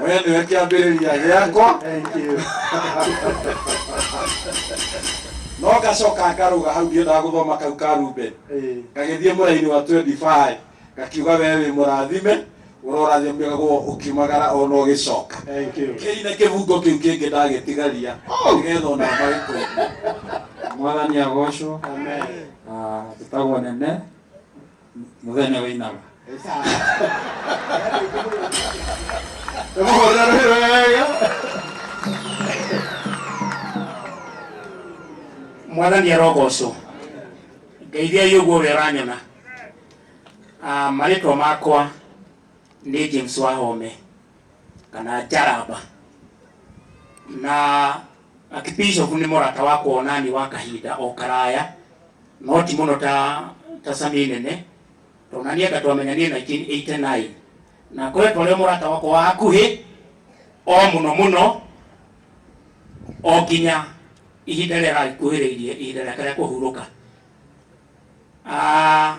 we nĩwe kĩambĩrĩria gĩakwa Thank you. no ngacoka ngarũga hau ndiendaga gũthoma kau ka ruben Eh, ngagĩthiĩ mũraini wa 25 ngakiuga wee wĩ mũrathime ũrorathimagwo ũkiumagara ona ũgĩcoka Thank you. kĩine kĩbungo kĩu kĩngĩ ndagĩtigaria nĩgetha ona magĩkũigua mwathani agocwo Amen. na tũtagwo nene muthenya wä inama mwathani arogocwo ngeithia yå guo rä a ranyona marĩtwa makwa nĩ james wahome kana njaramba na Archbishop nĩ mũrata wakwa onani wa kahinda o karaya no ti mũno ta ta Sami Nene tondũ naniĩ anga twamenyanire 1989 na akoretwo arĩ mũrata wakwa wa hakuhĩ o mũno mũno o nginya ihinda rĩrĩa aragĩkuhĩrĩirie ihinda rĩake rĩa kũhurũka. Aah.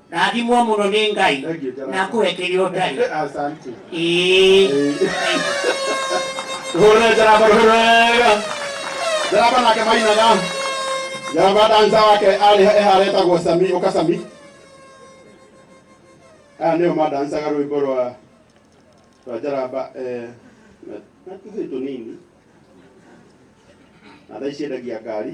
Rathimwo mũno nĩ Ngai Thank you, Jonathan. na akũhe kĩrĩa ũtarĩ. Asante. Ĩĩ. Hurra jaraba hurra. Jaraba nake mainaga. Jaraba danza wake arĩ ehara etagwo Sami ũka Sami. Aya nĩo madansaga rwĩmbo rwa rwa jaraba eh, na- na tũhĩĩ tũnini na thaa ici endagia ngari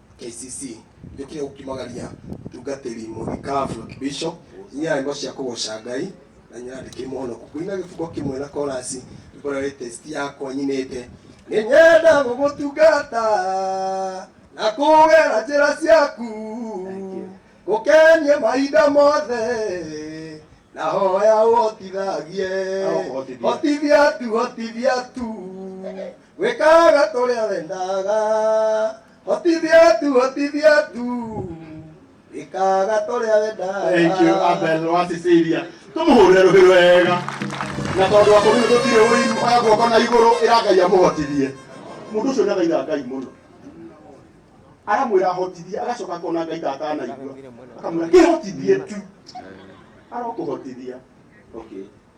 KCC nĩ kĩo kumagaria mũtungatĩri mũthikabu wa kĩbico nyina nyĩmbo cia kũgoca ngai na nyina ndĩkĩ mũhonoku kũina gĩbugo kĩmwe na korasi nĩkora latest yakwa nyinĩte nĩ nyenda gũgũtungata na kũgera njĩra ciaku gũkenie mahinda mothe na hoya ũhotithagie hotithia tu hotithia tu gwĩkaga tũrĩa wendaga hotithia tu hotithia tu ĩkaga tũrĩa wendaga Thank you, Abel wa Sicilia. Tũmũhũrĩre rũhĩ wega. Na tondũ wa kũrĩ gũtirĩ ũiru, oya guoko na igũrũ ĩra Ngai amũhotithie. Mũndũ ũcio nĩ athaitha Ngai mũno. Aramwĩra ahotithie, agacoka akona Ngai ta atanaigua. Akamwĩra kĩhotithie tu. Arokũhotithia. Okay.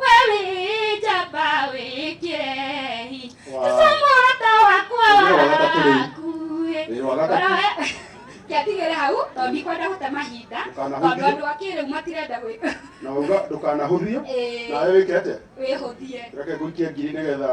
wewĩnjamba wĩkĩrehi Wow. tũcamũrata wakwa Wĩra wa gatatũ rĩu. wakuĩ Wĩra wa gatatũ. kĩatigĩre hau tondũ ndikwenda gũte mahinda tondũ Ndũkanahũthie. andũ a kĩrĩu matirenda gwĩ- na uga ndũkanahũthie Ĩĩ, nawe wĩke atĩa wĩhũthie reke ngũikie ngiri nĩgetha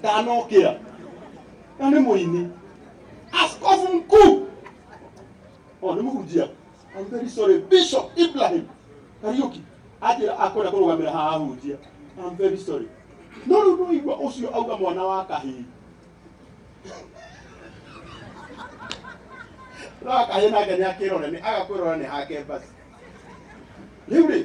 ndanokĩa na nĩ mũini askofu mkuu o nĩ mũhunjia I'm very sorry bishop ibrahim kariuki anjĩra akwenda kũrũgamĩra haha ahunjia I'm very sorry no rĩu ndũigua ũcio auga mwana wa kahĩĩ no akahĩĩ nake nĩ akĩrore nĩ agakwĩrora nĩ hake basi rĩu rĩ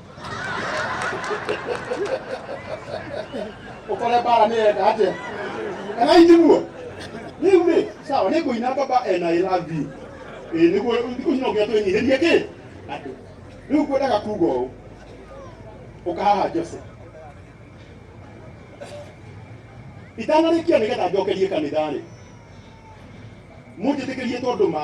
ũkore bara nĩ enda atĩa kana iniguo rĩu rĩ sawa nĩ kũina ngomba ena ĩrathi ĩ nĩguo thikũ cino nginya twĩnyihĩrie kĩ andũ rĩu kwendaga kuga ũũ ũkahaha jose itanarĩkia nĩgetha njokerie kanitha-rĩ mũnjĩtĩkĩrie tondũ ma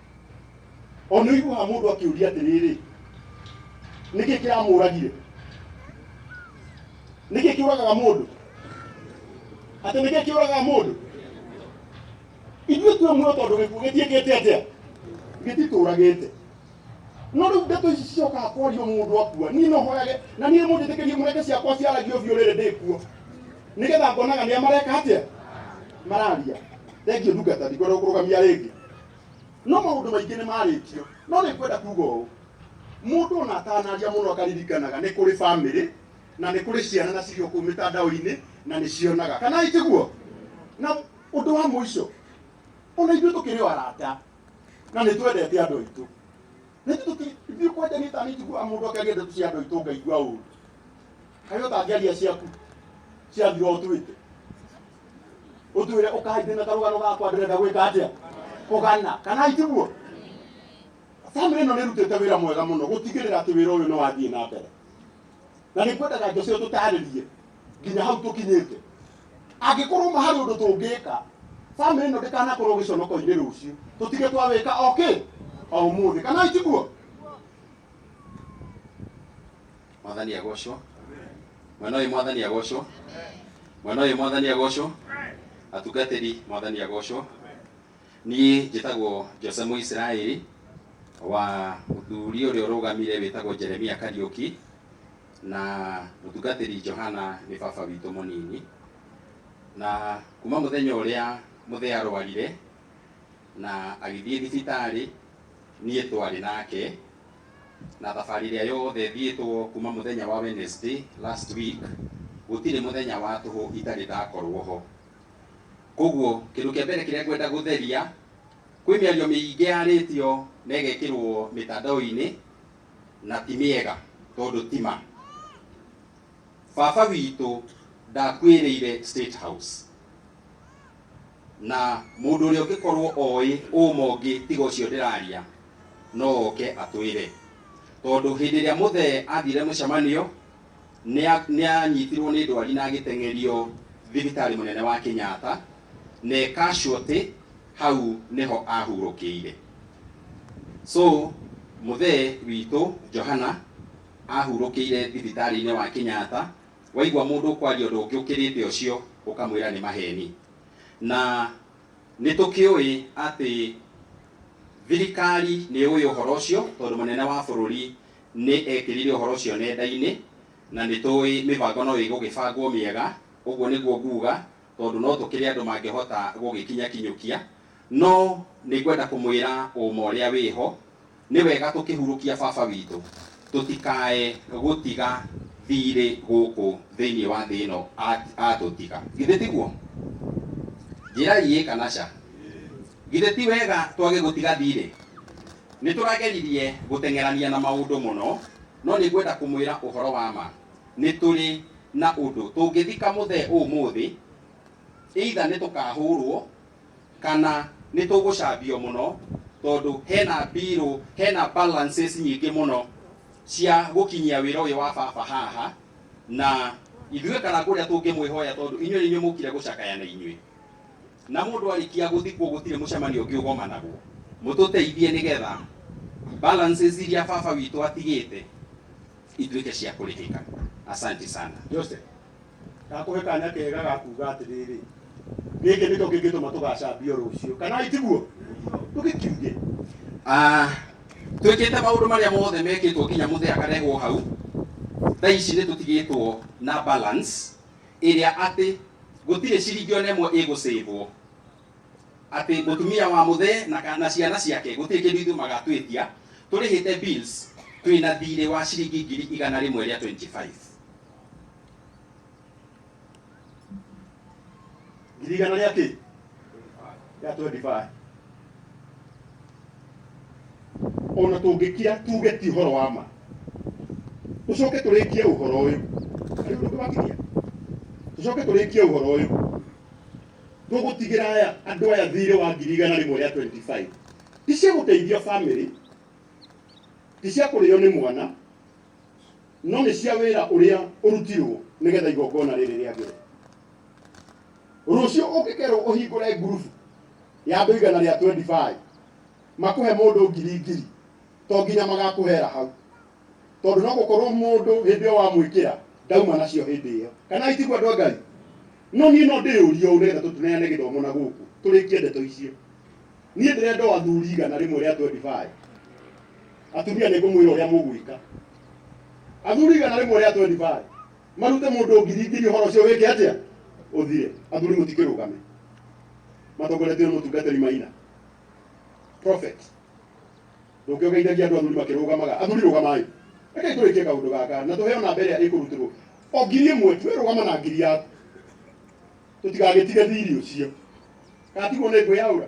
ona iguaga mũndũ akĩũria atĩrĩrĩ nĩkĩ kĩramũragire nĩkĩ kĩũragaga mũndũ atĩ nĩkĩ kĩũragaga mũndũ ithuĩ twĩ muoyo tondũ gĩkuũ gĩtiĩkĩte atĩa gĩtitũragĩte no rĩu ndeto ici ciokaga kwario mũndũ akua niĩ no hoyage na niĩ mũnjĩtĩkĩrie mũreke ciakwa ciaragio biũ rĩrĩ ndĩkuo nĩgetha ngonaga nĩa mareka atĩa mararia thengiũ ndungata ndingorwo kũrũgamia rĩngĩ no maũndũ maingĩ nĩ marĩtio no nĩ kwenda kuga ũũ mũndũ ona atanaria mũno akaririkanaga nĩ kũrĩ bamĩrĩ na nĩ kũrĩ ciana na cirio kũu mĩtandao-inĩ na nĩ cionaga kana itiguo na ũndũ wa mũico ona ithuĩ tũkĩrĩ o arata na nĩ twendete andũ aitũ na ithuĩ tũkĩ- ithuĩ kwanja nĩ ta nĩnjiguaga mũndũ akĩaria ndeto cia andũ aitũ ngaigua ũru kaĩ ũtangĩaria ciaku ciathira ũtwĩte utwire ukaithie na karugano gakwa ndurenda gwika atia kugana kana itiguo family ĩno nĩrutĩte wĩra mwega mũno gũtigĩrĩra atĩ wĩra ũyũ nĩwathiĩ na mbere na nĩkwendaga njocio tũtarĩrie nginya hau tũkinyĩte angĩkorwo ma harĩ ũndũ tũngĩka family ĩno ndĩkanakorwo gĩconoko-inĩ rũciũ tũtige twawĩka okĩ o ũmũthĩ kana itiguo mwathani agocwo mwena ũyũ mwathani agocwo mwena ũyũ mwathani agocwo atungatĩri mwathani agocwo niĩ njĩtagwo jose mũisiraeli wa mũthuri ũrĩa ũrũgamire wĩtagwo jeremia kariũki na mũtungatĩri johana nĩ baba witũ mũnini na kuma mũthenya ũrĩa mũthee arwarire na agĩthiĩ thibitarĩ niĩ twarĩ nake Na thabarĩ ĩrĩa yothe thiĩtwo kuma mũthenya wa Wednesday last week, gũtirĩ mũthenya wa tũhũ itarĩ ndakorwo ho. Koguo kĩndũ kĩa mbere kĩrĩa ngwenda gũtheria, kwĩ mĩario mĩingĩ yarĩtio na ĩgekĩrwo mĩtandao-inĩ na ti mĩega tondũ ti ma. baba witũ ndakuĩrĩire State House na mũndũ ũrĩa ũngĩkorwo oĩ ũma ũngĩ tiga ũcio ndĩraria no oke atwĩre tondũ hĩndĩ ĩrĩa mũthee athire mũcemanio nĩa- nĩanyitirwo nĩ ndwari na agĩteng'erio thibitarĩ mũnene wa Kenyatta na ekashuotĩ hau nĩho ahurũkĩire so mũthee witũ Johana ahurũkĩire thibitarĩ-inĩ wa Kenyatta, waigua mũndũ ũkwaria ũndũ ũngĩ ũkĩrĩte ũcio ũkamwĩra nĩ maheni. Na nĩ tũkĩũĩ atĩ thirikari nĩ yũĩ ũhoro ũcio tondũ mũnene wa bũrũri nĩ ekĩrire ũhoro ũcio nenda-inĩ na nĩ tũĩ mĩbango no ĩgũgĩbangwo mĩega, ũguo nĩguo nguga tondũ no tũkĩrĩ andũ mangĩhota gũgĩkinya kinyũkia. No nĩ ngwenda kũmwĩra ũũma ũrĩa wĩho, nĩ wega tũkĩhurũkia Baba witũ, tũtikae gũtiga thiirĩ gũkũ thĩinĩ wa thĩ ĩno atũtiga. Githĩ tiguo? Njĩrai ĩĩ kana ca. Githĩ ti wega twage gũtiga thiirĩ? Nĩ tũrageririe gũteng'erania na maũndũ mũno, no nĩ ngwenda kũmwĩra ũhoro wa ma, nĩ tũrĩ na ũndũ. Tũngĩthika mũthee ũũmũũthĩ, either nĩ tũkahũũrwo kana nĩ tũgũcambio mũno tondũ hena mbirũ, hena balances nyingĩ mũno cia gũkinyia wĩra ũyũ wa baba haha, na ithuĩ kana kũrĩa tũngĩmwĩhoya tondũ inyuĩ nĩ inyuĩ mũkire gũcakaya na inyuĩ, na mũndũ arĩkia gũthikwo gũtirĩ mũcemanio ũngĩ ũgomanagwo, mũtũteithie nĩgetha balances iria baba witũ atigĩte ituĩke cia kũrĩhĩka. Asanti sana. Joseph. ndakũhe kanya kega ga kuga atĩrĩrĩ gĩkĩ nĩkĩo kĩngĩtũma tũgacambio rũciũ kana itiguo tũgĩkiuge Ah, twĩkĩte maũndũ marĩa mothe mekĩtwo nginya mũthĩ akarehwo hau thaa ici nĩ tũtigĩtwo na balance ĩrĩa atĩ gũtirĩ ciringi ona ĩmwe ĩgũcĩvwo atĩ mũtumia wa mũthee na kana ciana ciake gũtirĩ kĩndũ ithuĩ magatwĩtia tũrĩhĩte bills twĩna thirĩ wa ciringi ngiri igana rĩmwe rĩa 25 ngiri igana rĩa kĩ rĩa 25 ona tũngĩkira tuge ti ũhoro wa ma tũcoke tũrĩkie ũhoro ũyũ Harĩ ũndũ ũngĩwakinyia? tũcoke tũrĩkie ũhoro ũyũ tũgũtigĩra aya andũ aya thirĩ wa ngiri igana rĩmwe rĩa 25 ti cia gũteithia bamĩrĩ ti cia kũrĩo nĩ mwana no nĩ cia wĩra ũrĩa ũrutirwo nĩgetha igongona rĩrĩ rĩa mbere rũciũ ũngĩkerwo ũhingũre ngurubu ya andũ igana rĩa 25 makũhe mũndũ ngiri ngiri to nginya magakũhera hau tondũ no gũkorwo mũndũ hĩndĩ ĩyo wamwĩkĩra ndauma nacio hĩndĩ ĩyo kana itigua andũ a ngai no niĩ no ndĩyũrie ũũ nĩgetha tũtuneane gĩthomo na gũkũ tũrĩkie ndeto icio niĩ ndĩrenda o athuri igana rĩmwe rĩa 25 Atumia nĩ ngũmwĩra ũrĩa mũgwĩka. Athuri igana rĩmwe rĩa 25 marute mũndũ ngiri ngiri ũhoro ũcio wĩke atĩa ũthire. Athuri mũtikĩrũgame matongoretio nĩ mũtungatĩri Maina prophet ndũngĩgeithagia andũ athuri makĩrũgamaga athuri rũgamai rekei tũrĩkie kaũndũ gaka na tũheo namba ĩrĩa ĩkũrutĩrwo o ngiri ĩmwe tuwe rũgama na ngiri yaku tũtigagĩtige thiri ũcio gatigwo nĩ ngwĩyaũra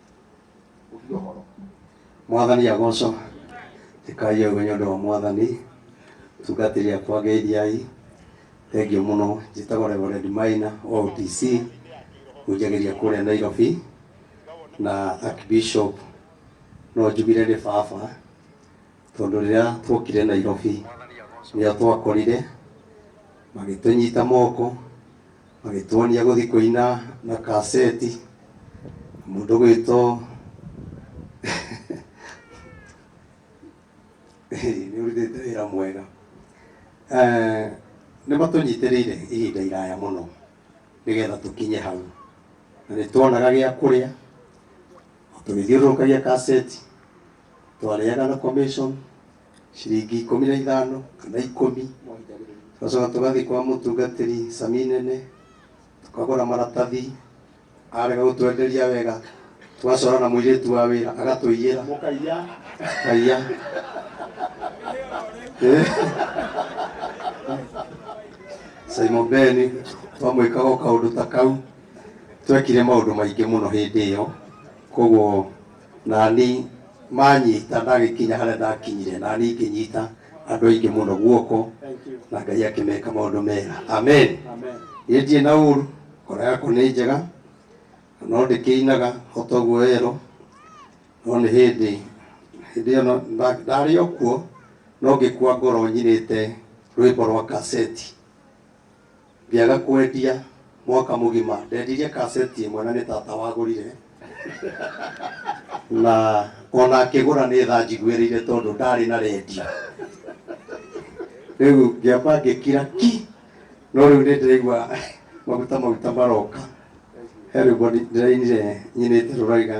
mwathani agocwo ĩkai ũguo nĩ ũndũ wa mwathani tungatĩri akwa ngeithiai thengiũ mũno njĩtagwo reverend maina wa OTC hũnjagĩria kũrĩa Nairobi na archbishop no njugire nĩ baba tondũ rĩrĩa twokire Nairobi nĩo twakorire magĩtũnyita moko magĩtuonia gũthiĩ kũina na kaseti mũndũ gwĩtwo nĩ ũrutĩte wĩra mwega Eh, nĩ matũnyitĩrĩire ihinda iraya mũno nĩgetha tũkinye hau na nĩ tuonaga gĩa kũrĩa tũgĩthiũrũrũkagia kaseti twarĩaga na commission ciringi ikũmi na ithano kana ikũmi tũgacoka tũgathiĩ kwa mũtungatĩri cami nene tũkagũra maratathi arega gũtwenderia wega tũgacora na mũirĩtu wa wĩra agatũiyĩra mũkaiya kaiya Simon Ben twamwĩkaga kaũndũ ta kau twekire maũndũ maingĩ mũno hĩndĩ ĩyo koguo Nani manyita ndagĩkinya harĩa ndakinyire nani ngĩnyita andũ aingĩ mũno guoko na ngai akĩmeka maũndũ mega amen niĩ ndirĩ na ũru ngoro yakwa nĩ njega na no ndĩkĩinaga o toguo ero no nĩ hĩndĩ hĩndĩ ĩyo no- nda- ndarĩ o kuo no ngĩkua ngoro nyinĩte rwĩmbo rwa kaseti Ngĩaga kwendia mwaka mũgima. Ndendirie kaseti ĩmwe na nĩ tata wagũrire na ona akĩgũra nĩ tha njiguĩrĩire tondũ ndarĩ na rendio. Rĩu ngĩamba ngĩkira ki, no rĩu nĩ ndĩraigua maguta maguta maroka. He rwĩmbo ndĩrainire nyinĩte rũrauga,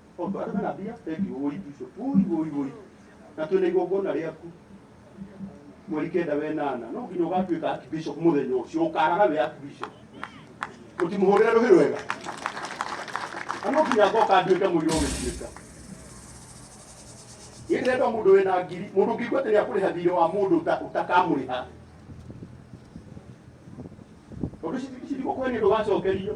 Ondu aria mena mbia thank you woi bishop woi woi woi na twina igongona riaku mweri kenda wenana no nginya ugatuika archbishop muthenya ucio ukaraga wi archbishop mutimuhurire ruhi rwega na no nginya ngoka nduike muiri ugituika Niĩ ndĩrenda mũndũ wĩna ngiri mũndũ ũngĩigua atĩ nĩakũrĩha thirĩ wa mũndũ ũta- ũtakamũrĩha tondũ ici ici thikũ kwene ndũgacokerio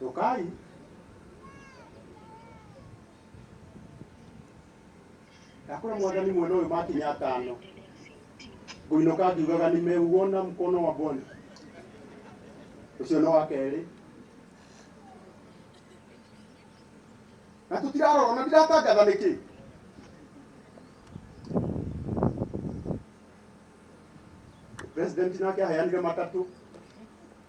Cokai. Ndakũra mwathani mwena ũyũ makinya atano ngũinũka ngiugaga nimeuona mkono wa Bwana. Ũcio nĩ wa kerĩ. Na tũtirarora na ndiratangatha nĩkĩ. President nake aheanire matatũ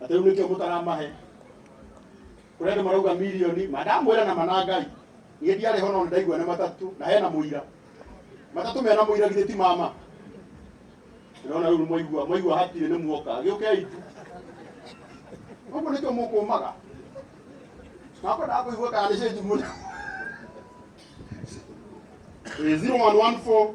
na rĩu nĩkĩo mũtaramahe kũrenda marauga milioni mandamwĩra na manangai niĩ ndiarĩ ho no ndaigua nĩ matatũ na hena mũira matatũ mena mũira githĩ ti mama ndĩrona rĩu mwaigua mwaigua hatirĩ nĩ muoka gĩũkei tu ũguo nĩkĩo mũkũmaga makwendaga kũigua kana nĩ cenji mũno 0114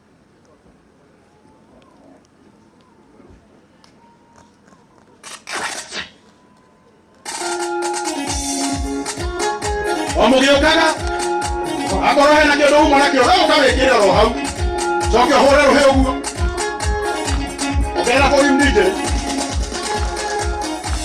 omũgĩũkaga akorwo hena kĩndũ uma nakĩo we ũkawĩkĩra ro hau coke ũhũre rũhĩ ũguo ũkera kũrimdinjĩ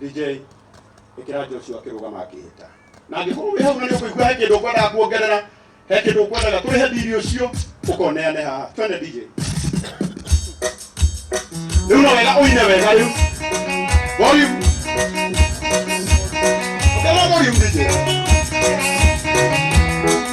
DJ ikira Joshua kirugama akihita na angĩkorwo wĩ hau na nĩ ũkũigua he kĩndũ ũkwendaga kuongerera he kĩndũ ũkwendaga tũrĩhe biri ũcio ũkoneane haha twende DJ rĩu no wega ũine wega rĩu volume Come on, volume DJ